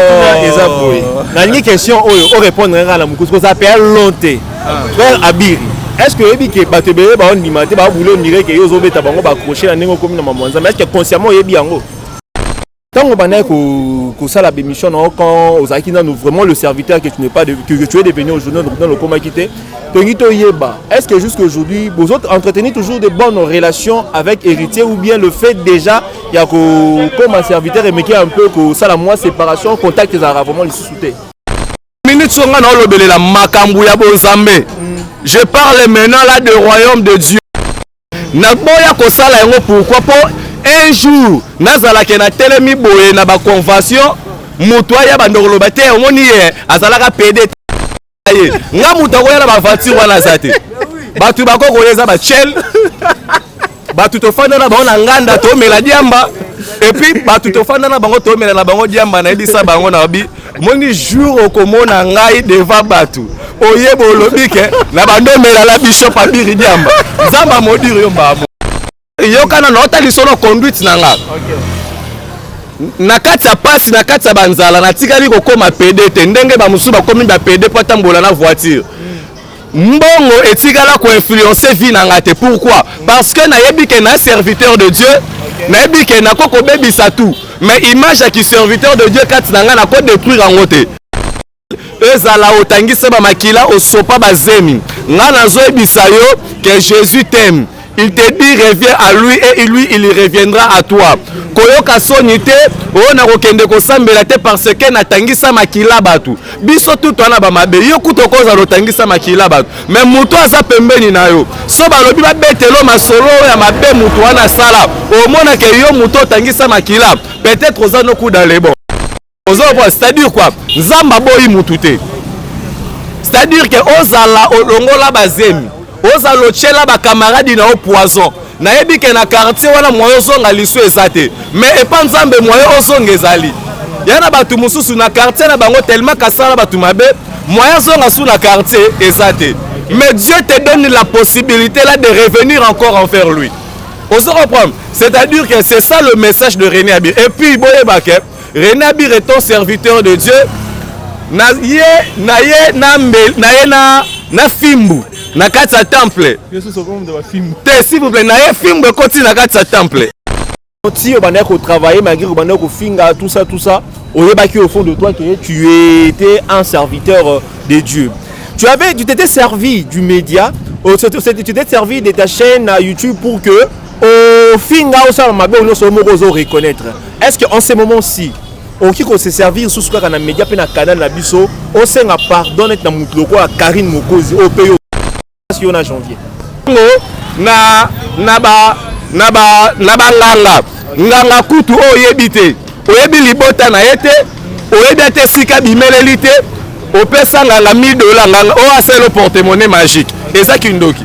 oh. eza boye nalingi question oyo o répondre kaka na mokusu koza mpe long te ah. frère abiri est ce que oyebi ke bato ebele baondima te babule ondire ke yo ozobeta bango bacroche na ndenge okomi na mamwanza mais est ce que consciemment oyebi yango ntango obandaki kosala bémission na yo quand ozalaki nanu vraiment le serviteur que tu n'es pas de, que, que tu es devenu aujourd'hui dans lokomaki te tolingi toyeba est ce que jusqu'à aujourd'hui vous entretenez toujours de bonnes relations avec héritier ou bien le fait déjà ya kokoma serviteur emeki un peu kosala mwa séparation contact ezalaka vraiment lisusu te minute so ngai naolobelela makambo ya bonzambe je parle maintenant là de royaume de dieu naboya kosala yango pourquoi mpo un jour nazalaka na telemi boye na baconvention moto aya bandokoloba te omoni ye azalaka pede ye nga moto akoya na baventure wana aza te bato bakoki koya eza bachel bato tofanda na bango na nganda tomela diamba epuis bato tofanda na bango tomela na bango diamba nayebisa bango na bi moni jour okomona ngai deva bato oyeba olobi ke na bandomela na bishop abiri diamba nzambe amodiri yo mbamo yoka nano ata lisono conduite na nga na kati ya pasi na kati ya banzala natikali kokoma pede te ndenge bamosusu bakomi bapede mpo atambola na voiture mbongo etikala koinfluence vie na nga te pourquoi parce que nayebi ke na serviteur de dieu nayebi ke nako kobebisa tout mais image ya kiserviteur de dieu kati na nga nako détruire yango te ezala otangisa ba makila osopa ba zemi nga nazoyebisa yo que Jésus t'aime il te dit reviens à lui et lui il reviendra à toi koyoka soni te oyo oh, nakokende kosambela te parce que natangisa makila bato biso tutu wana bamabe yo kutu okozala otangisa makila bato me moto aza pembeni na yo so balobi babetelo masolo oyo ya mabe moto wana asala omonake yo moto otangisa makila peut-être oza nokuda lebon ozo comprendre c'est-à-dire quoi nzambe aboyi mutu te c'est-à-dire que ozala olongola bazemi ozala otyela bakamaradi na yo poison nayebi ke na quartier wana moye ozonga lisu eza te mais epa nzambe moye ozonga ezali ya na bato mosusu na quartier na bango tellement kasala bato mabe moye azonga su na quartier eza te mais dieu te donne la possibilité là de revenir encore envers lui ozo comprendre c'est-à-dire que c'est ça le message de rené abi et puis boyeba ke Rena bir est un serviteur de Dieu. Na ye na ye na mbel na ye na na fimbu na kati ya temple. Te s'il vous plaît na ye fimbu ekoti na kati ya temple. Ti obandaki ko travailler malgré ko banda ko finga tout ça tout ça. Oyebaki au fond de toi que tu étais un serviteur euh, de Dieu. Tu avais tu t'étais servi du média, tu t'étais servi de ta chaîne à YouTube pour que ofinga osala mabe oyo nyonso yo moko ozo reconnaître est ce que en ce moment si okoki kose servir susu kaka na média mpe na canal na biso osenga pardon neti na motu lokola karine mokozi oyo mpe yo yo na janvier na na ba na ba na banganga nganga kutu oyo oyebi te oyebi libota na ye te oyebi ata esika bimeleli te opesa nganga 1000 dola nganga oyo asala portemone magique eza kindoki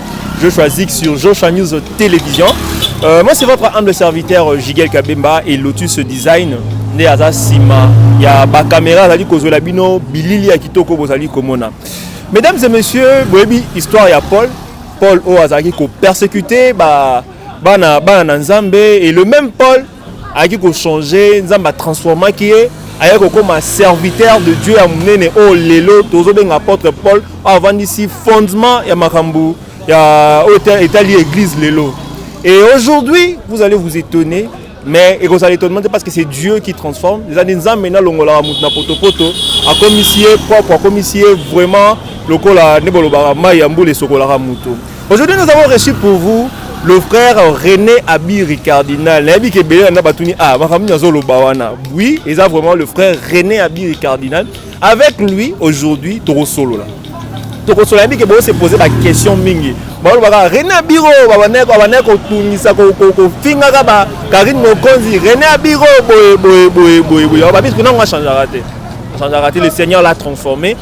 Joshua Zik sur Joshua News Télévision. Euh, moi, c'est votre humble serviteur euh, Jigel Kabemba et Lotus Design. nde aza nsima ya bakamera azali kozwela bino bilili ya kitoko bozali komona mesdames et messieurs boyebi histoire ya paul paul oyo azalaki kopersécute bana bana na nzambe et le même paul ayaki ko changer nzambe atransformaki ye ayaki kokoma serviteur de dieu ya monene oyo oh, lelo tozobenga apôtre paul oyo avandisi fondement ya makambo ya oyo oh, etali église lelo et aujourd'hui vous allez vous étonner mais ekozala étonnement te parce que c'est dieu qui transforme eza nde nzambe nalongolaka moto na potopoto akomisi ye propre akomisi ye vraiment lokola nde bolobaka mai ya mbula esokolaka moto Aujourd'hui nous avons reçu pour vous le frère René Abiri Cardinal. Nayebi ke bele na batuni ah makambo nyazo loba wana. Oui, eza vraiment le frère René Abiri Cardinal. Avec lui aujourd'hui toko solo là. Toko solo nayebi ke bo se poser la question mingi. Ba loba ka René Abiro ba bana ko bana ko tungisa ko ko ko finga ka ba Karine Mokonzi René Abiro boye boye boye boye boye. Ba biso na ngwa changer raté. Changer raté le Seigneur l'a transformé.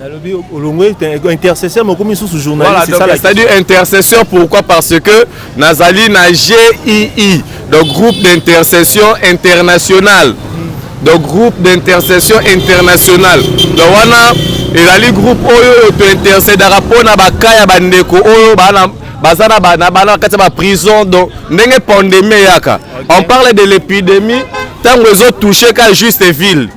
nalobi olongwe intercesseur mokomi susu journalistcestadire intercesseur pourquoi parce que nazali na gii donc groupe d'intercession internationale donc groupe d'intercession internationale donc wana ezali groupe oyo oyo tointercedaka mpo na baka ya bandeko oyo bana baza na bana bana kati ya baprison donc ndenge pandemie eyaka on parle de l'épidémie ntango ezotouche ka juste ville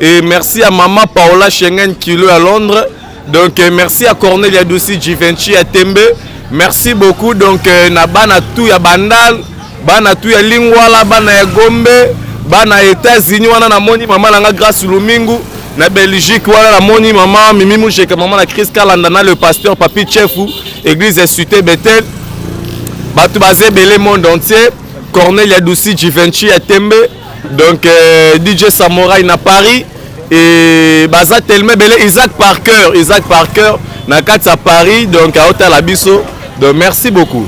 Et merci à maman Paola Schengen Kilo à Londres. Donc euh, merci à Cornelia Dussi Givenchy à Tembe. Merci beaucoup donc euh, na bana tout ya Bandal, bana tout ya Lingwala, bana ya Gombe, bana États-Unis wana na moni maman langa grâce Lumingu na Belgique wana na moni maman Mimi Mujeka maman la Chris Kalanda na le pasteur Papi Chefu église Sute Bethel. Batu baze belé monde entier. Cornelia Dussi Givenchy à Tembe. donc euh, dj samorai na paris e baza tellement ebele isaac parker isaac parker na kati ya paris donc aotala biso donc merci beaucoup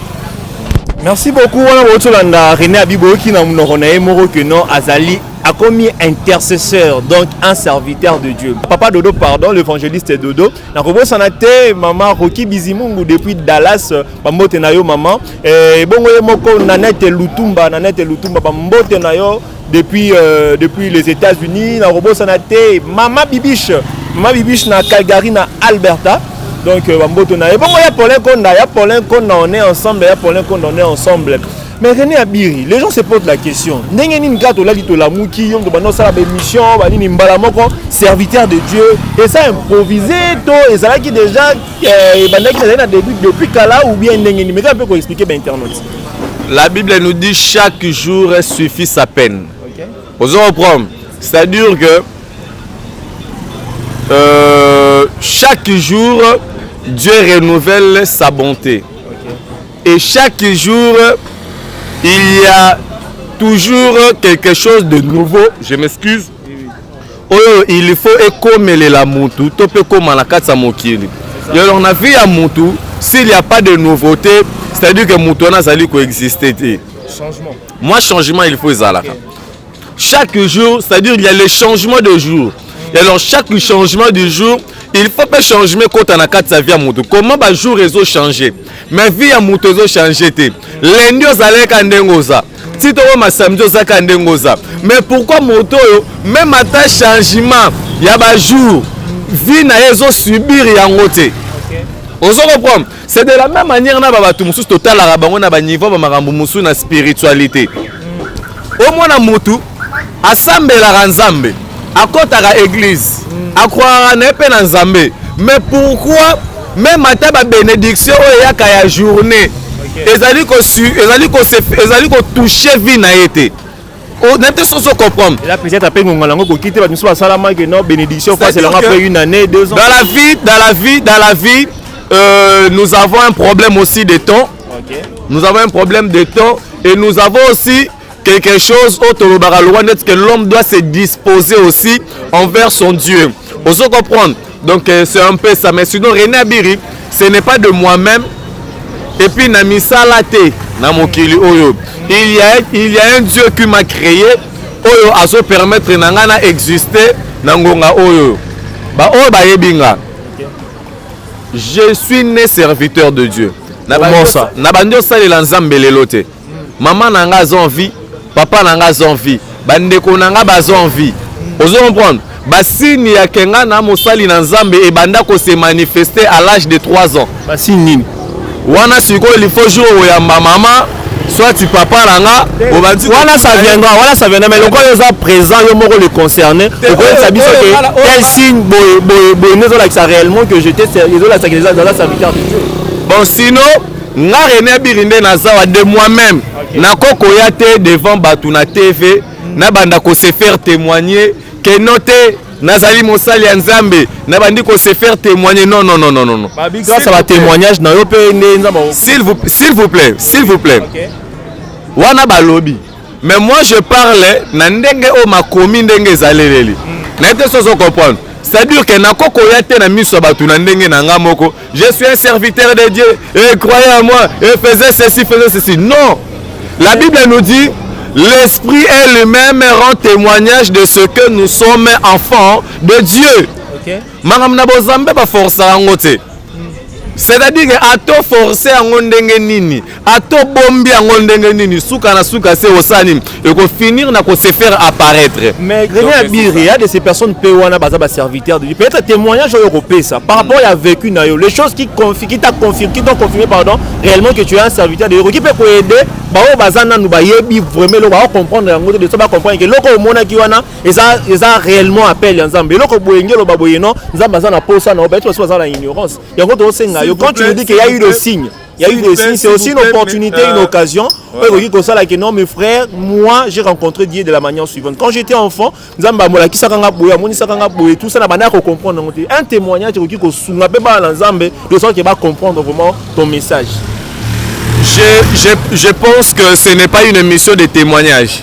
merci beaucoup wana bouti olanda rené abi boyoki na monoko na ye moko ke non azali akomi intercesseur donc un serviteur de dieu papa dodo pardon l'évangéliste dodo nakobosana te mama roki bizimungu depuis dallas bambote na yo mama Eh, ebongo ye moko nanete lutumba nanete lutumba bambote na yo depuis, euh, depuis les états-unis nakobosana te mama bibiche mama bibiche na calgary na alberta donc euh, bamboto na ebongo ya paulin konda ya paulin konda on est ensemble ya paulin konda on est ensemble mais rené abiri les gens se posent la question ndenge nini kaka tolali tolamuki yo moto banda osala baémission banini mbala moko serviteur de dieu eza improvise to ezalaki déjà Eh, ebandaki nazali na début depuis kala ou bien ndenge nini meka mpe koexplike bainternaute la bible nous dit chaque jour suffit sa peine okay. ozo reprendre c'est à dire que euh, chaque jour dieu renouvelle sa bonté okay. et chaque jour il y a toujours quelque chose de nouveau je m'excuse oyo il faut ekomelela mutu to mpe ekoma na kati ya mokili alors na vie ya mutu s'il y a pas de nouveauté c'est à dire que mutu wana azali koexiste te moi changement il faut ezalaka okay. chaque jour c'est à dire il y a le changement de jour mm. alors chaque changement du jour il faut mpe changement ekota na kati ya vie ya mutu comment bajour ezochanger mais vie ya moto ezo change te lendi ozalaki ka ndenge oza ti tokoma samedi oza ka ndenge oza mais pourquoi moto oyo meme ata changement ya bajour vie na ye ezo subir yango te ozo comprendre c'est de la même manière na babato mosusu totalaka bango na baniveau bamakambo mosusu na spiritualité omona motu asambelaka nzambe akotaka eglise mm. akwaka na ye mpe na nzambe mais pourquoi meme ata babénédiction oyo eyaka ya journée ezali ezali ezali kotouche vie na ye te nayebi te soki ocomprendre peut-être ape ngonga nango ekoki te bato mosusu basalamaki no bénédiction face elanga après une année deux ans dans la vie dans la vie dans la vie euh, nous avons un problème aussi de temps okay. nous avons un problème de temps et nous avons aussi quelque chose oyo tolobaka lokola neti que l'homme doit se disposer aussi envers son dieu ozo comprendre donc euh, c'est un peu ça mais sinon rené abiri ce n'est pas de moi-même et puis na misala te na mokili oyo il y a, il y a un dieu qui m'a créé oyo azo permettre na ngai na exister na ngonga oyo baoyo bayebi nga je suis né serviteur de dieu na bandi osalela nzambe lelo te mama na nga aza envie papa na nga aza envie bandeko na nga baza envie ozo comprendre basini ya kenga na mosali na nzambe ebanda kose manifeste à l'âge de 3 ans basini nini wana sikoyo lifo jour oyamba mama soit papa na nga obandi wana ça viendra wana ça viendra mais lokola oza présent yo moko le concerné okoyebisa biso ke tel signe boye boye boye nde ezolakisa réellement que je te ezolakisa que eza serviteur de dieu bon sinon nga Rene Abiri nde nazawa de moi-même okay. nakokoya te devant bato na TV mm. nabanda ko se faire témoigner que no te nazali mosali ya nzambe nabandi ko se faire témoigner non non non non non grâce à ba témoignage na yo pe nde nzambe s'il vous s'il vous plaît s'il vous plaît okay. wana balobi Mais moi je parle na ndenge oyo makomi ndenge ezaleleli. Na ete sozo comprendre. C'est-à-dire que nako koya te na miso ya bato na ndenge na nga moko. Je suis un serviteur de Dieu et croyez en moi et faisais ceci, faisais ceci. Non. La Bible nous dit l'esprit est lui-même rend témoignage de ce que nous sommes enfants de Dieu. Okay. makambo na bozambe baforsaka yango te c'est-à-dire ke ato force yango ndenge nini ato bombi yango ndenge nini suka na suka se osala nini ekofinir na ko se faire apparaître mais grene ya biri ya de ces personnes mpe wana baza baserviteur de peut-être témoignage oyo okopesa par rapport ya vécu na yo les choses qui qui t'a confirmé qui t'ont confirmé pardon réellement que tu es un serviteur de okoki mpe koaide baoyo baza nanu bayebi vraiment eloko baocomprendre yango te de so bacomprendre ke eloko omonaki wana eza eza réellement appel ya nzambe eloko boye nge oloba boye non nzambe aza na posa na yo bayetu basi baza na ignorance yango tokosenga yo quand tu nous dis que ya eu le signe Il y a eu des signes, c'est aussi une opportunité, une euh, occasion. que non, mes frères, moi, j'ai rencontré Dieu de la manière suivante. Quand j'étais enfant, Nzamba Mola qui sakanga boya, moni sakanga boya, tout ça, la manière qu'on comprend. Un témoignage qui ko sunga pe ba Nzambe, de sorte que va comprendre vraiment ton message. Je, je, je pense que ce n'est pas une émission de témoignage.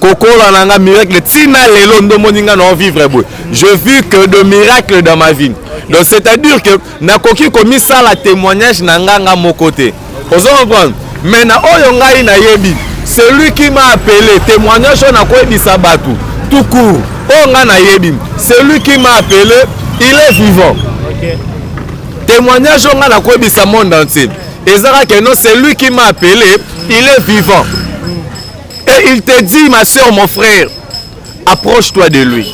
kokola na nga miracle tina lelo ndo moni nga na vivre boye je vu que de miracle dans ma vie donc c'est à dire que nakoki komisala témoignage na nga nga moko te ozo comprendre mais na oyo ngai nayebi celui qui m'a appelé témoignage oyo nakoyebisa bato tout court oyo ngai nayebi celui qui m'a appelé il est vivant okay. témoignage oyo ngai nakoyebisa monde entier ezalaka non celui qui m'a appelé il est vivant et il te dit ma soeur mon frère approche toi de lui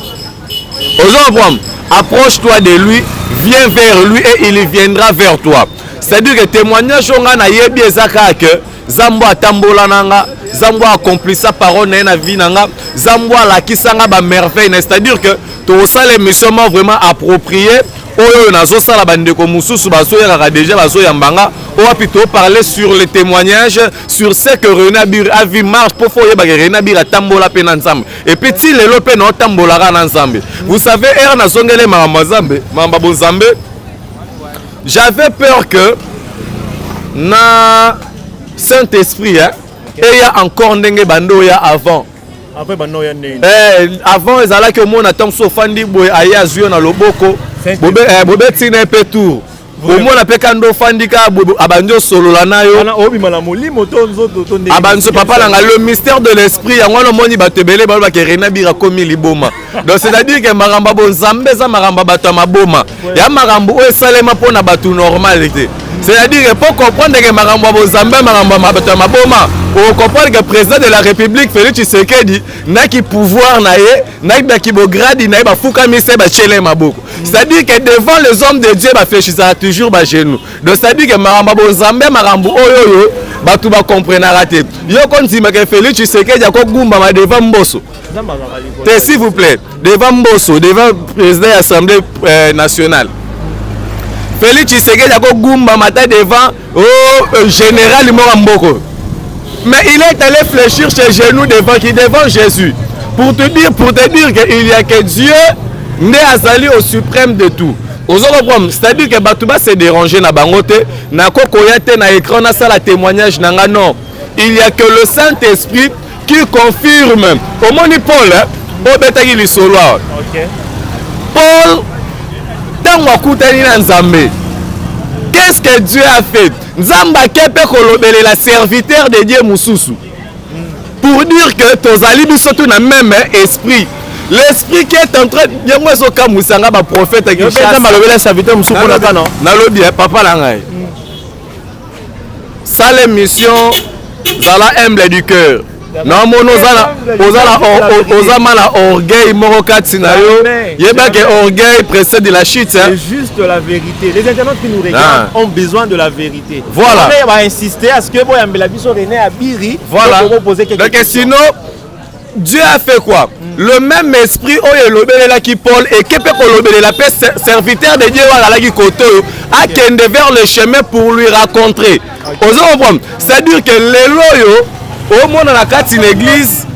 ozo comprendre approche toi de lui viens vers lui et il viendra vers toi c'est à dire que témoignage oyo ngai nayebi eza kaka que zambo atambola na nga zambo acomplisa parole na ye na vie na nga zambo alakisa nga bamerveille na c'est à dire que tokosala émission ma vraiment approprié oyo oyo nazosala bandeko mosusu bazoyakaka deja bazoyamba nga oyo wapi toparle sur le témoignage sur ce que René Abir a vu marche pour faut yeba que René Abir atambola pe na Nzambe et puis ti lelo pe na otambola ka na Nzambe vous savez era na zongele mama Nzambe mama bo Nzambe j'avais peur que na Saint-Esprit hein et ya encore ndenge bando ya avant après bando ya ndenge eh avant ezalaki omona tant so fandi boye aya zuyo na loboko bobe eh, bobe tina pe tour omona mpe kanda ofandi ka abandi osolola na yo abanso papa na ngai le mystère de l'esprit yango wana omoni bato ebele balobaka rena bira komi liboma donc c'est-à-dire ke makambo ya bonzambe eza makambo ya bato ya maboma ya makambo oyo esalema mpo na bato normal te c'est-à-dire ke mpo comprendre ke makambo ya bonzambe makambo ya bato ya maboma okoprendre ke président de la république félix tshisekedi na ki pouvoir na ye na ba kibogradi na ye bafukami se batyele maboko c'est-à-dire que devant les hommes de dieu baflechisaka toujours bagenou donc c'est-à-dire que makambo ya bonzambe makambo oyo oyo bato bakomprenaka te yo kondimaka félix tshisekedi akogumbama devant mboso te s'il vous plaît devant mboso devant président ya assemblée euh, nationale félix tshisekedi akogumbama ata devant oh général moko mboko mais il est allé fléchir ses genoux devant qui devant Jésus pour te dire pour te dire que il y a que Dieu nde azali au suprême de tout ozo comprendre c'est-à-dire que bato ba se déranger na bango te nakokoya te na écran nasala témoignage na nga non il y a que le Saint-Esprit Qui confirme omoni Paul eh? obetaki lisolo awa okay. Paul ntango akutani na Nzambe qu'est-ce que Dieu a fait Nzambe ake mpe kolobelela serviteur de Dieu mosusu pour dire que tozali biso tout na même esprit l'esprit qui est en train yango ezokamwisa nga baprofete ya kinshasa nalobi ya papa na ngai sala emission zala humble du cœur namoni oza ma na orgueil moko kati na yo yebake orgueil précède de la chute hein. c'est juste la vérité les internautes qui nous regardent ah. ont besoin de la vérité voilà on va insister à ce que boyambela biso René Abiri voilà donc sinon Dieu a fait quoi mm. Le même esprit oyo elobelelaki Paul eke mpe kolobelela mpe serviteur de Dieu oyo azalaki kote oyo akende vers le chemin pour lui rencontrer okay. ozo comprendre c'est-à-dire que lelo oyo omona na kati na église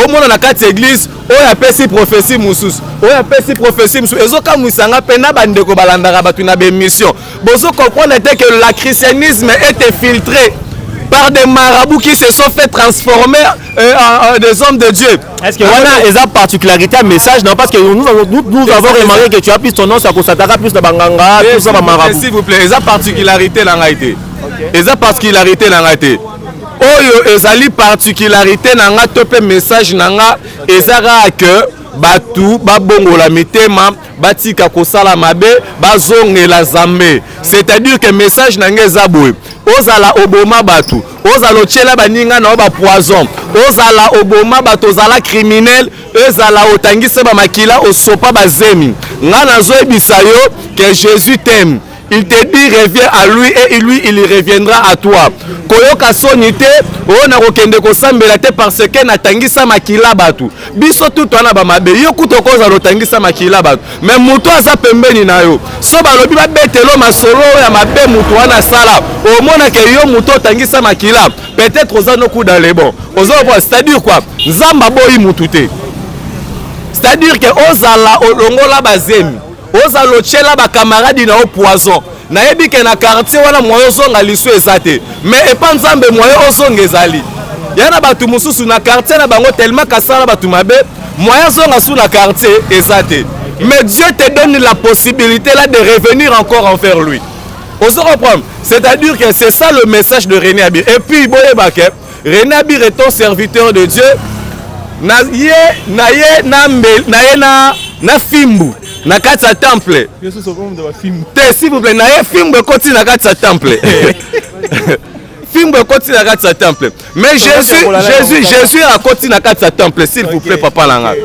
omona na kati ya église oyo apesi prophesie mosusu oyo apesi prophesie mosusu ezokamwisanga mpe na bandeko balandaka bato na baémission Bozo comprendre te que la christianisme est infiltré par des marabouts qui se sont fait transformer euh, en, en des hommes de Dieu. Est-ce que wana eza particularité ya message na parce que nous, nous, nous avons remarqué que tu as plus tendance ya kosataka plus na banganga plus na bamarabu s'il vous plaît eza particularité na ngai te eza particularité na ngai te oyo ezali particularité na ngai to mpe message na ngai eza kaka que bato babongola mitema batika kosala mabe bazongela zambe c'est-à-dire que message na ngai eza boye ozala oboma bato ozala otyela baninga na yo bapoison ozala oboma bato ozala criminel ezala otangise bamakila osopa bazemi ngai nazoyebisa yo que jésus teme il te dit revient à lui et lui il reviendra à toi koyoka soni te oyo na kokende kosambela te parce que natangisa makila bato biso tutu wana bamabe yo kutu okozala otangisa makila bato me moto aza pembeni na yo so balobi babetelo masolo oyo ya mabe moto wana asala omonake yo moto otangisa makila peut-être oza nokuda lebon oza okoa c'est-à-dire quoi nzambe aboyi motu te c'est-à-dire ke ozala olongola bazemi oza lotyela bakamaradi na yo poison nayebi ke na quartier wana moyen ozonga lisu eza te mais epa nzambe moyen ozonga ezali ya na bato mosusu na quartier na bango tellement kasala bato mabe moyen azonga su na quartier eza te mais dieu te donne la possibilité là de revenir encore envers lui ozo comprendre c'est à dire que c'est ça le message de rené abir et puis boyeba ke Rena bir est un serviteur de Dieu na ye na ye na mbel na ye na na fimbu na kati ya temple te s'il vous plaît na ye fimbu ekoti na kati ya temple fimbu ekoti na kati ya temple mais jésus jésus jésus akoti na kati ya temple s'il vous plaît papa na ngai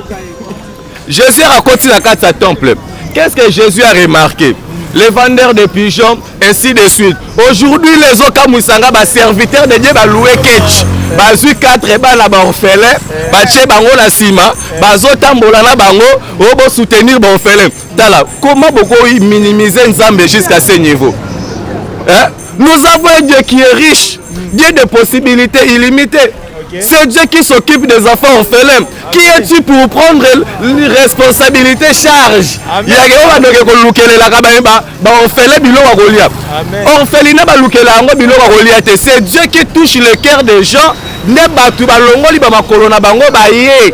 Jésus akoti na kati ya temple. Qu'est-ce que Jésus a remarqué? Les vendeurs de pigeons, ainsi de suite. Aujourd'hui, les Okamusanga, ba serviteurs de Dieu, ba loué ketch. bazwi 4 bana baorphelin batie bango na nsima bazotambola na bango o oh, bosoutenir baorphelin tala comment bokominimize nzambe jusqu'à ce niveau eh? Nous avons un Dieu qui est riche, Dieu des possibilités illimitées. C'est Dieu qui s'occupe des enfants orphelins. Qui es-tu pour prendre responsabilité, charge ya yehova ndoki ekolukelelaka baorphelin biloko ya kolia orphelina balukela yango biloko ya kolia te c'est dieu qui touche le cœur des gens nde bato balongoli bamakolo na bango baye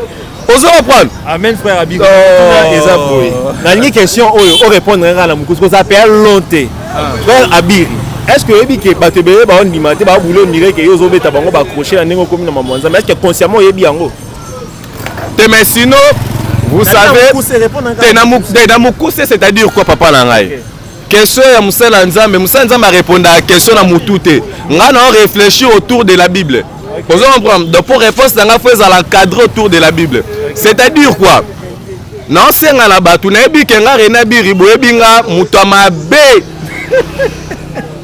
ozo comprendre amen frère abi oh. eza boye nalingi question oyo o répondre nga na mokusu koza pe lonte ah. frère abiri est ce que oyebi ke bato ebele baondima te babule omire ke yo ozobeta bango bacroche na ndenge okomi na mamwanza mais est ce que consciemment oyebi yango te mais sinon vous savez te na mokuse c'est à dire quoi papa na ngai question ya mosali ya nzambe mosali ya nzambe arepondaka question na motu te ngai nao réfléchir autour de la bible ozo comprendre donc pour réponse na ngai fo ezala encadré autour de la bible c'est-à-dire quoi naosenga na bato nayebi ke nga rena biri boyebi nga moto ya mabe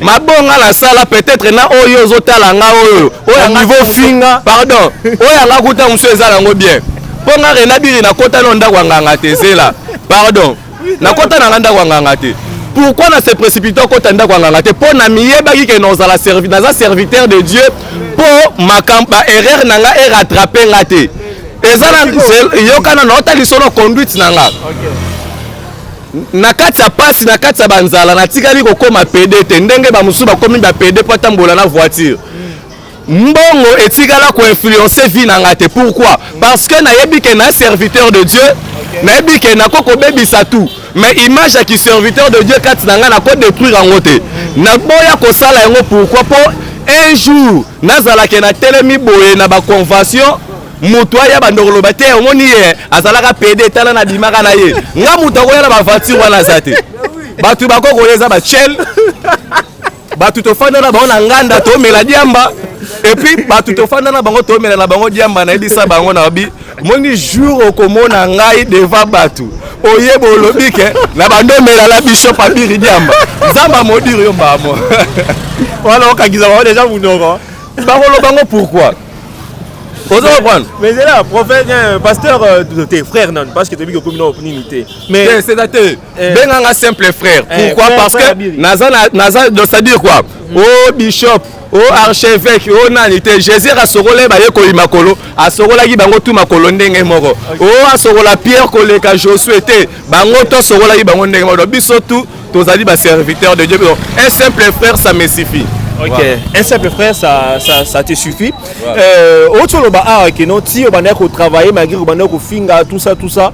mabonga nasala peut-être na oyo ozotala nga oyo oyo niveau finga pardon oyo anga kuta mosusu eza nango bien mpo nga rena biri nakota no ndako ya nganga te zela pardon Na kota na ndako ya nganga te. Pourquoi na se précipiter kota ndako ya nganga te? Po na miyebaki ke nozala servi, naza serviteur de Dieu po makambo ba erreur na nga e rattraper nga te. Eza na yokana na ota lisono conduite na nga. Okay. na kati ya pasi na kati ya banzala natikali kokoma pede te ndenge bamosusu bakomi bapede mpo atambola na voiture mbongo etikala ko influencer vie na nga te pourquoi parce que nayebi que na serviteur de Dieu nayebi ke nako kobebisa tout mais image ya ki serviteur de dieu kati na ngai nako détruire yango te naboya kosala yango pourquoi mpo un jour nazalaka na telemi boye na baconvention moto aya bandoko loba te yango ni ye azalaka pede tala na bimaka na ye nga moto akoya na baventure wana aza te bato bakokoya eza bachel bato tofanda na bango na nganda tomela diamba epuis bato tofanda na bango tomela na bango diamba nayebisa bango na bi omoni jour okomona ngai deva bato oyeba olobi ke na bando omela na bishop abiri diamba nzambe amodiri yo mbamo wana okangisa bango deja monoko bakoloba ngo pourquoi ozo comprendre mais ezela prophète euh, pasteur euh, te frère nanu parce que toyebi kokomi na opinini te mais c'est te Eh. benga nga simple frère eh, pourquoi parce que naza naza donc ça dire quoi mm. oh bishop o oh, archevêque o oh, nani te jésus asokola ye baye koyi makolo asokolaki bango tu makolo ndenge moko o oh, asokola pierre koleka josue te bango to asokolaki bango ndenge moko donc biso tu tozali baserviteur de dieu donc un simple frère ça me suffit Ok, voilà. un simple frère, ça, ça, ça te suffit. Voilà. Euh, autre le bar, que non, si on a travailler malgré qu'on a finga, tout ça, tout ça,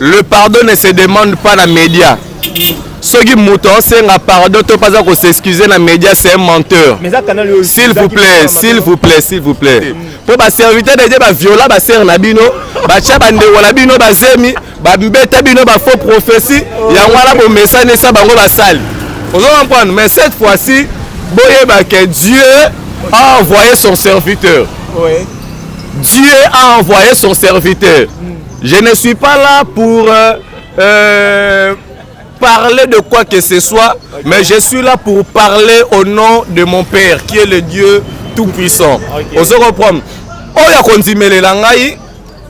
le pardon ne se demande pas na media soki moto aosenga pardon to mpaza kosexcuse na media c'est un menteur s'il vous plaît s'il vous plaît s'il vous plaît mpo baserviteur de dieu baviola basere na bino batya bandeko na bino bazemi babeta bino bafaux prophétie yango wana bomesani esa bango basali ozo comprendre mais cette fois-ci boyeba que dieu a envoyé son serviteur oui. dieu a envoyé son serviteur mm. Je ne suis pas là pour euh, euh, parler de quoi que ce soit, mais je suis là pour parler au nom de mon Père, qui est le Dieu Tout-Puissant. Okay. Ozo comprendre Oyo akondimelela ngai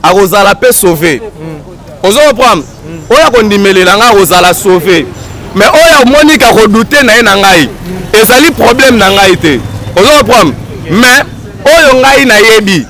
akozala mpe sauve. Hmm. Ozo comprendre hmm. Oyo akondimelela ngai akozala sauve. Mais oyo amoni ka kodoute na ye na ngai hmm. ezali problème na ngai te. Ozo comprendre Mais oyo ngai nayebi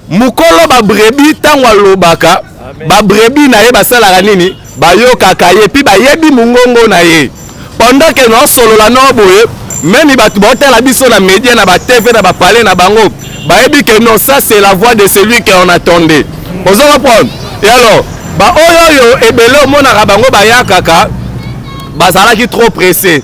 mokolo ba brebis ntango alobaka ba brebis na ye basalaka nini bayokaka ye mpe bayebi mongongo na ye pendant ke naosolola nao boye meme bato baotala biso na media na batv na bapale na bango bayebi ke non ça c'est la voix de celui que on attendait ozo comprendre et alors baoyo oyo ebele omonaka bango bayakaka bazalaki trop pressé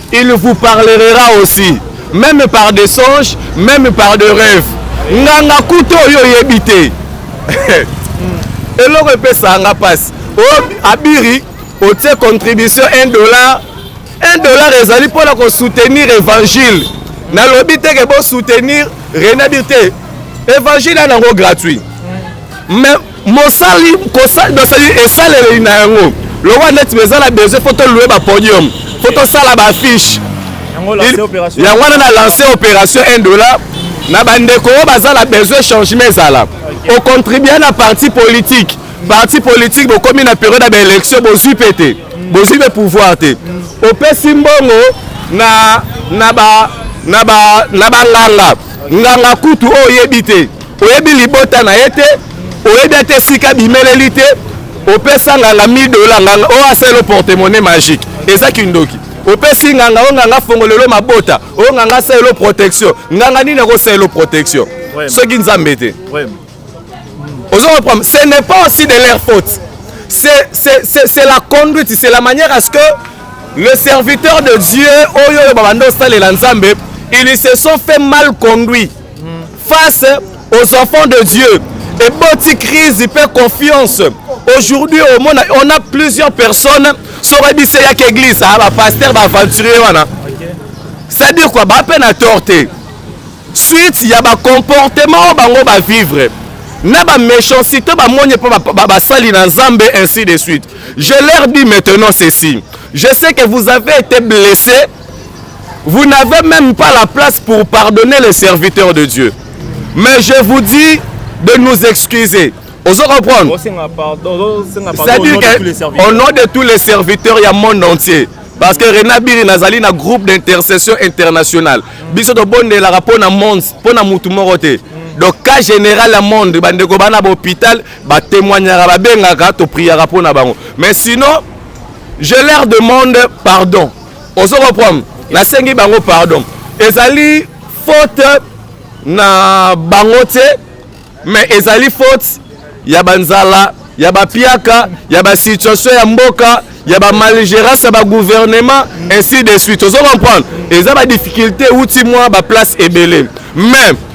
Il vous parlerera aussi meme par des songes, meme par des rêves. Nganga kuto yo yebite. Eloko epesa nga pasi. O oh, abiri otie contribution 1 dollar. 1 dollar ezali mpo na kosoutenir évangile. Nalobi te ke bo soutenir Renabir te. Évangile yango gratuit. Mais mosali kosali esaleli na yango lokola neti eza na besoin fo tolue bapodium fo tosala baaffiche yango wana na lance opération 1 dollar na bandeko oyo baza na besoin changement ezala ocontribue na parti politique parti politique bokomi na periode ya baélection bozwi mpe te bozwi mpe pouvoir te opesi mbongo na na ba na ba na banganga nganga kutu oyo oyebi te oyebi libota na ye te oyebi ata esika bimeleli te opesa nganga 1000 dola nganga oyo oh, aselo portemone magique eza kindoki opesi nganga oyo nganga fongolelo mabota oyo nganga asalelo protection nganga nini akosalelo protection soki nzambe te ozo comprendre ce n'est pas aussi de leur faute c'est la conduite c'est la manière à ce que le serviteur de dieu oyo oyo babanda osalela nzambe ils se sont fait mal conduit face aux enfants de Dieu et boti crise pe confiance aujourd'hui au monde on a plusieurs personnes sur la bise ya église ah ba pasteur ba aventurier wana ça dire quoi ba peine à torter suite ya ba comportement bango ba vivre na ba méchanceté ba moni pe ba ba sali na Nzambe ainsi de suite je leur dis maintenant ceci je sais que vous avez été blessé Vous n'avez même pas la place pour pardonner les serviteurs de Dieu. Mais je vous dis de nous excuser. Ozo comprendre C'est-à-dire qu'au nom de tous les serviteurs, il y a monde entier. Parce que Rena Biri nazali na groupe d'intercession internationale. Biso to bonde la rapport na monde, pour na mutu moko te. Donc cas général à monde, bande ko bana hôpital, ba témoignera ba bengaka to priera pour na bango. Mais sinon, je leur demande pardon. ozo comprendre nasengi bango pardon ezali faute na bango te mais ezali faute ya banzala ya bapiaka ya basituation ya mboka ya bamaligérance ya bagouvernement ainsi de suite ozo comprendre eza badifficulté euti mwa baplace ebele mais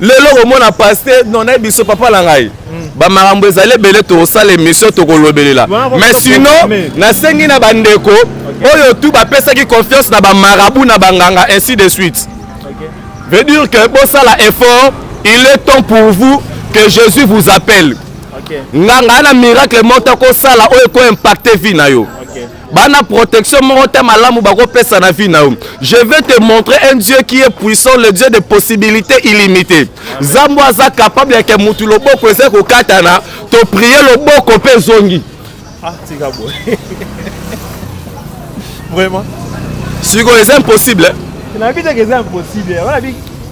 lelo komona paste non nayebi biso papa na ngai hmm. bamakambo ezali ebele tokosala émission tokolobelela mais sinon nasengi na bandeko oyo tu bapesaki confiance na bamarabu na banganga ainsi de suite veut dire que bosala effort il est temps pour vous que jésus vous appelle nganga na miracle moko akosala oyo ekoimpacte vie na yo bana protection moko te malamu bakopesa na vie na yo je vais te montrer un dieu qui est puissant le dieu de possibilité illimité zambo aza capable yake mutu loboko eza kokatana toprie loboko mpe ezongi ah, vraiment sikoyo eza impossible eh?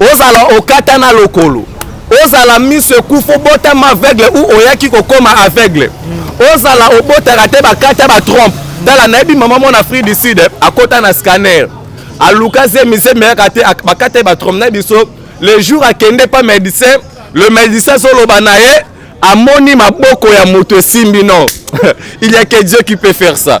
Ozala okatana lokolo, ozala miso ekufa, obotama aveugle ou oyaki kokoma aveugle, ozala obotaka te bakata ba trompe. Tala, nayebi mama mwana Afrique du Sud akota na scanner, aluka zemi zemi yaka te, bakata ye ba trompe na biso. Le jour akende pa medecin, le medecin azoloba na ye amoni maboko ya moto esimbi. Non, il y a que Dieu qui peut faire ça.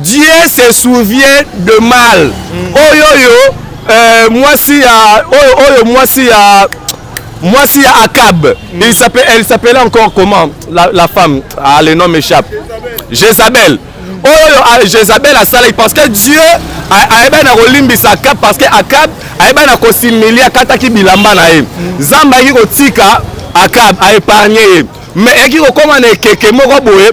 Dieu se souvient de mal mm. oyo oyo euh, mwasi ya oyo oyo mwasi ya mwasi ya Akab mm. il s'appelle elle s'appelait encore comment la, la femme ah le nom m'échappe Jezabel mm. oyo oyo ah, Jezabel asalaki parce que Dieu ayebaki na kolimbisa Akab parce que Akab ayebaki na kosimili akataki bilamba na ye Nzambe ayaki kotika Akab a épargner ye mais eyaki kokoma na ekeke moko boye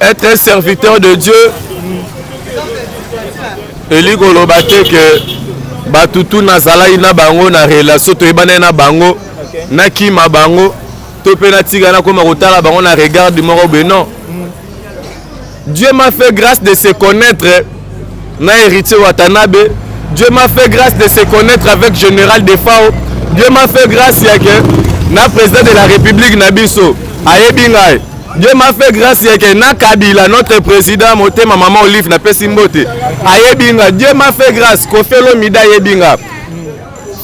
Être un serviteur de Dieu elingi koloba te ke bato tu nazalaki na bango na relation toyebanaki na bango nakima bango to mpe natika nakoma kotala bango na regarde moko boye non dieu m'a fait grâce de se connaître na Heritier Watanabe Dieu m'a fait grâce de se connaître avec Général Defao Dieu m'a fait grâce ya que na président de la République na biso ayebi ngai Dieu m'a fait grâce ya que na Kabila notre président motema maman Olive na pesi mbote ayebi ngai Dieu m'a fait grâce Koffi Olomide ayebi ngai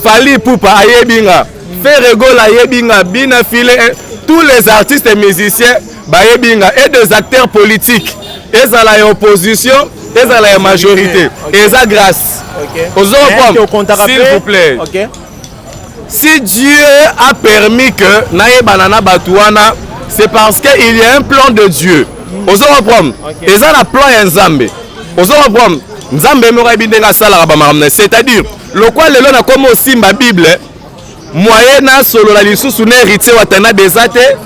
Fally Ipupa ayebi ngai Ferre Gola ayebi ngai Bina File eh, tous les artistes musiciens bayebi nga et des acteurs politiques ezala ya opposition ezala ya majorité eza grâce ozokompompe s'il vous plaît si dieu a permis que nayebana na bato wana c'est parce que il y a un plan de dieu hmm. ozokoprome eza na plan ya nzambe ozokoprome nzambe moko ayebi ndenge asalaka bamakambo na c'est-à-dire lokwa lelo nakomi osimba bible moye nasolola lisusu na héritier watanabe eza te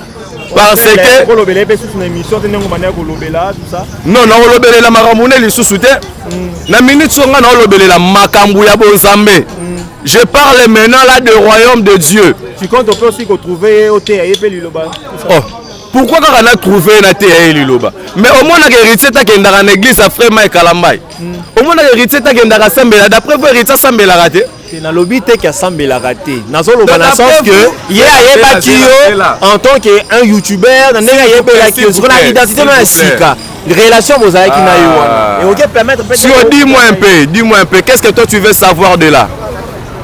parce que kolobela mpe susu na émission te ndenge obanda ya kolobela tusa non nakolobelela makambo ne lisusu te mm. na minute so ngai naolobelela makambo ya bonzambe mm. je parle maintenant là de royaume de dieu tu compte mpe aussi kotrouve ye oteya ye mpe liloba oh pourquoi kaka na trouve ye nateya ye liloba mais omonaka héritier takendaka na église ya frère mai kalambai mm. omonaka héritier takendaka asambela d'après vo héritier asambelaka te te nalobi te ke asambelaka te nazoloba na sens que ye ayebaki yo en tant que un youtubeur na ndenge ayebelaki yo sikoyo na identité no ya sika relation bozalaki na yo wana ah. ekoki permettre peut sur dis moi un peu dis moi un peu qu'est-ce que toi tu veux savoir de là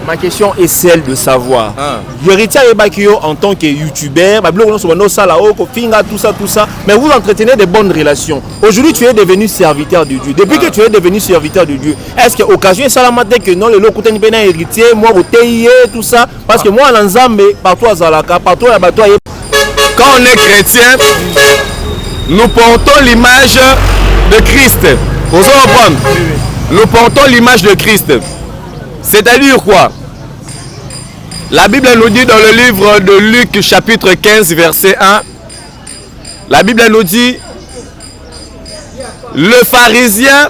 ma question est celle de savoir ah. héritier ayebaki yo en tant que youtubeur babiloko nyonso banda osala o oh, kofinga tout ça tout ça mais vous entretenez de bonnes relations aujourd'hui tu es devenu serviteur de dieu depuis ah. que tu es devenu serviteur de dieu est-ce que occasion esalama te que non lelo okutani mpe na héritier mwa boteyi ye tout ça parce que mwana na nzambe partout azalaka partout ya bato aye quand on est chrétien nous portons l'image de christ ozo comprendre nous portons l'image de christ c'est-à-dire quoi la bible nous dit dans le livre de luc chapitre 15 verset 1 la bible nous dit le pharisien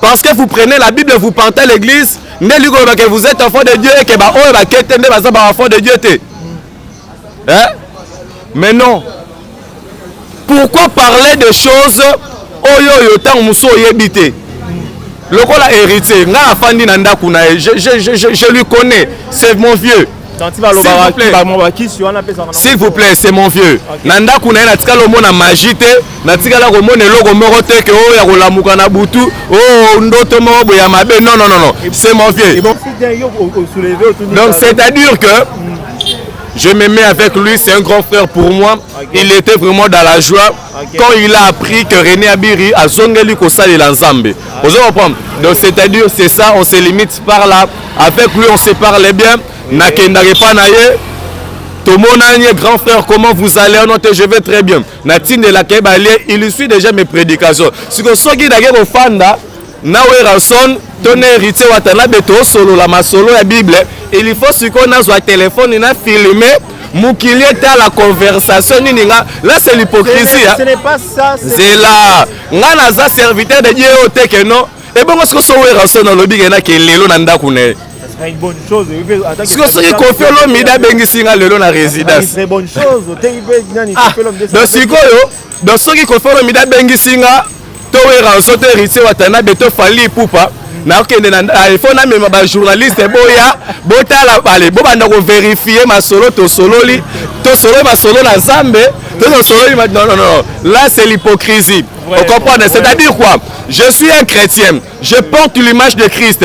Parce que vous prenez la Bible, vous partez l'église, nde liko loba que vous êtes enfant de Dieu et que ba oyo ba kete nde baza ba enfant de Dieu te. Hein? Mais non. Pourquoi parler de choses oyo oyo tango musu oyebi te? Lokola héritier, nga afandi na ndaku na ye, je, je, je, je lui connais, c'est mon vieux. s'il vous plaît c'est mon vieux na ndako na ye natikala omona magie te natikala komona eloko moko te ke oyo ya kolamuka na butu o oh, ndoto moko boye ya mabe non non non c'est mon vieux donc c'est à dire que hmm. je me mets avec lui c'est un grand frère pour moi il était vraiment dans la joie quand il a appris que René Abiri a zongeli ko sali la Nzambe. Vous comprenez Donc c'est-à-dire c'est ça on se limite par là avec lui on se parle bien na kenda pas na ye tout mon ami grand frère comment vous allez on te je vais très bien na tinde la kebalie il suit déjà mes prédications. Si ko soki na ko fanda na Werrason to na Heritier Watanabe tosolola masolo ya Bible, il faut sikoyo nazwa telefone na filme mokili etala conversation nini nga là c'est l'hypocrisie zela nga naza serviteur de Dieu oyo te ke non ebongo sikoyo so Werrason alobi ke na ke lelo na ndako na ye sikoyo soki kofi olomide abengisi nga lelo na résidence ah, donc sikoyo donc soki kofi olomide abengisi nga to weranso to héritier watanabe to fali ipupa nakokende na efo namema bajournaliste boya botala bale bobanda koverifie masolo tosololi tosololi masolo na nzambe to tosololi non non non là c'est l'hypocrisie Vous comprenez C'est-à-dire quoi Je suis un chrétien. Je porte l'image de Christ.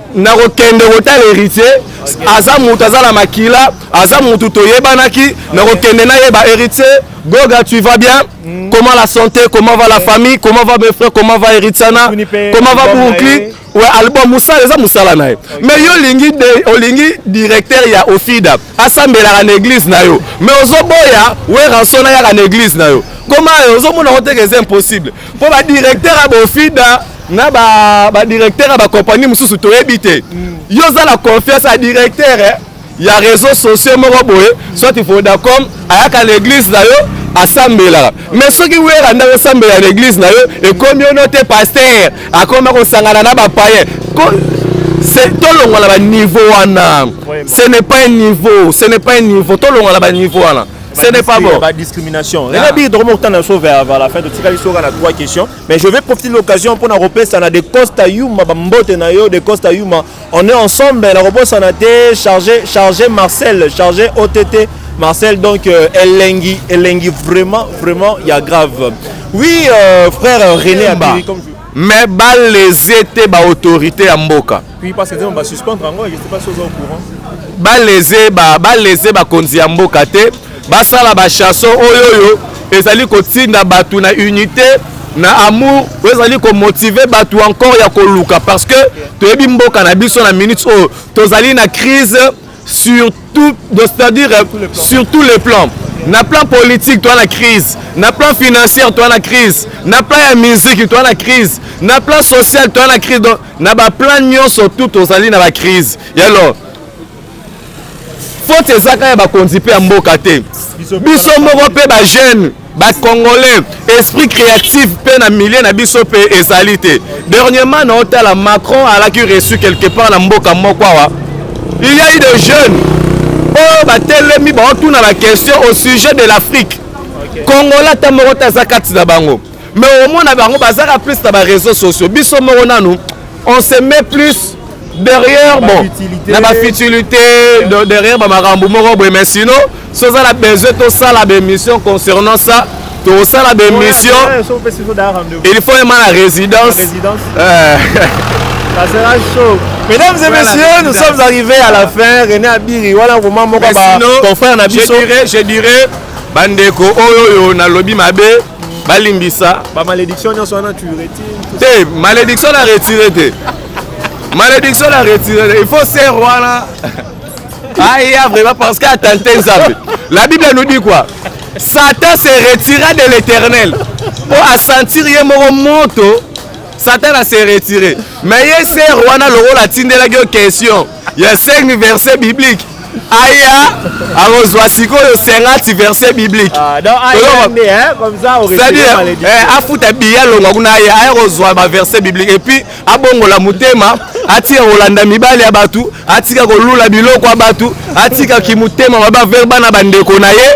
nakokende kotala héritier aza moto aza na makila aza moto toyebanaki nakokende nayeba héritier goga tu vas bien mm. comment la santé comment va la mm. famille comment va mes frères comment va héritiana comment va brooklyn we album mosala eza mosala na ye mais yo olingi olingi directeur ya ofida asambelaka na église na yo mais ozoboya weranson ayaka na église na yo koma yo ozomona koteka eza impossible mpo badirecteur ya bofida na badirecteur ya bakompani mosusu toyebi te mm. yo oza na confiance ya directeur eh, ya réseau sociaux moko boye soit vodacom ayaka na église na yo asambelaka me soki wera nde akosambela na église na yo ekomi ono te paster akoma kosangana na bapaye tolongola baniveau wana ce n'est pas un niveau ce n'est pas un niveau tolongola baniveau wana Ce n'est pas bon. Pas discrimination. Là, bien dromo autant de sauver avant la fin de Tikali Sora na trois questions, mais je vais profiter de l'occasion pour na repère ça na de Costa Yuma bambote na yo de Costa Yuma. On est ensemble, la repère ça na te chargé chargé Marcel, chargé OTT Marcel donc euh, Elengi Elengi vraiment vraiment il y a grave. Oui euh, frère René Abiri comme mais balesie te baautorité ya mboka Puis parce que nous va suspendre encore, je sais pas si vous êtes au courant. Ba léser ba ba léser ba konzi ya mboka te, ba sala ba chanson oyo oyo ezali kotinda batu na unité na amour oyo ezali komotive bato encore ya koluka parce que toyebi mboka na biso na minute oyo tozali na crise sur tout c'est-à-dire sur tous les plans na plan politique toa na crise na plan financière toa na crise na plan ya musique toa na crise na plan social toa na crise donc na baplan nyonso tout tozali na bacrise yalo faute ezaka ya bakonzi mpe ya mboka te biso moko mpe bajeune ba congolais esprit créatif mpe na milieu na biso mpe ezali te dernièrement na otala macron alaki reçu quelque part na mboka moko awa il y a eu des jeunes oyo batelemi baotuna baquestion au sujet de l'afrique congolais ata moko te aza kati na bango mais omona bango bazaka plus na bareseau sociaux biso moko nanu on se met plus derrière bon na bafutilité derrière bamakambo moko boye mais sinon so oza na besoin tosala baémission concernant ça tosala baémission il faut ema na résidence euh. Ça sera chaud. Mesdames et messieurs, nous sommes arrivés à la fin. René Abiri, voilà vraiment mon papa, ton frère Nabiso. Je dirais, je dirais, bandeko oyo oh, yo nalobi mabe. balimbisa ba malédiction nyonso wana tu retire te malédiction na retire te malédiction na retire te il faut ser wana aya vraiment parce que atante nzambe la bible nous dit quoi satan se retira de l'éternel mpo asentir ye moko moto satana se retire me ye ser wana lokola atindelaki yo question ya 5 verset biblique aya akozwa sikoyo 50 verset biblique ah, eh, afuta biye alongwa kuna aya aya kozwa baverset biblique epuis abongola motema atika kolanda mibali ya bato atika kolula biloko ya bato atika kimotema mabaverba na bandeko na ye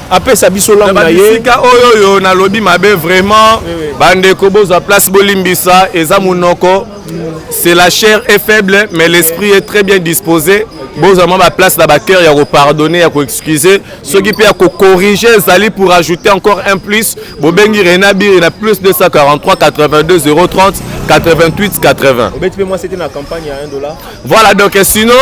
apesa biso langue na ye bisika oyo oyo nalobi mabe vraiment bandeko bozwa place bolimbisa eza monoko c'est la chair est faible mais l'esprit est très bien disposé bozwa mwa baplace na bacœur ya kopardonne ya koexcuse soki mpe ya kocorrige ezali pour ajouter encore un plus bobengi rena biri na plus 243 82 030 88 80 obeti mpe mwasi te na campagne ya 1 dollar voilà donc sinon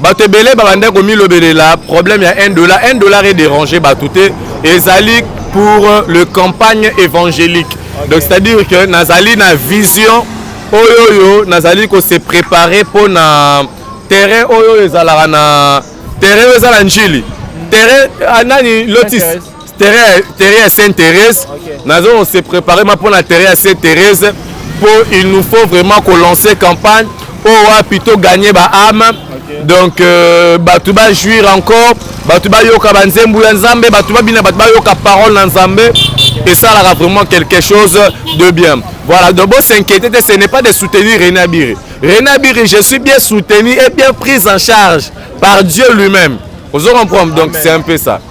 bato ebele babandaki komilobelela problème ya 1 dollar 1 dollar edérange bato te ezali pour euh, le campagne évangélique okay. donc c'est à dire que nazali na vision oyo oyo nazali kose préparer mpo na terrain oyo oyo ezalaka na terrain oyo eza na njili terrain ah, nani lotis terrain terrain ya sainte thérèse okay. nazo se préparer ma mpona terrain ya sainte thérèse mpo il nous faut vraiment kolancer campagne oyo oh, wapi to gagne baame okay. donc euh, bato bajuire encore bato bayoka banzembo ya nzambe bato babina bato bayoka parole na nzambe okay. esalaka vraiment quelque chose de bien voilà donc bosinquiéter te ce n'est pas de soutenir rena biri rena biri je suis bien soutenu et bien prise en charge par dieu lui-même ozo comprendre donc c'est un peu ça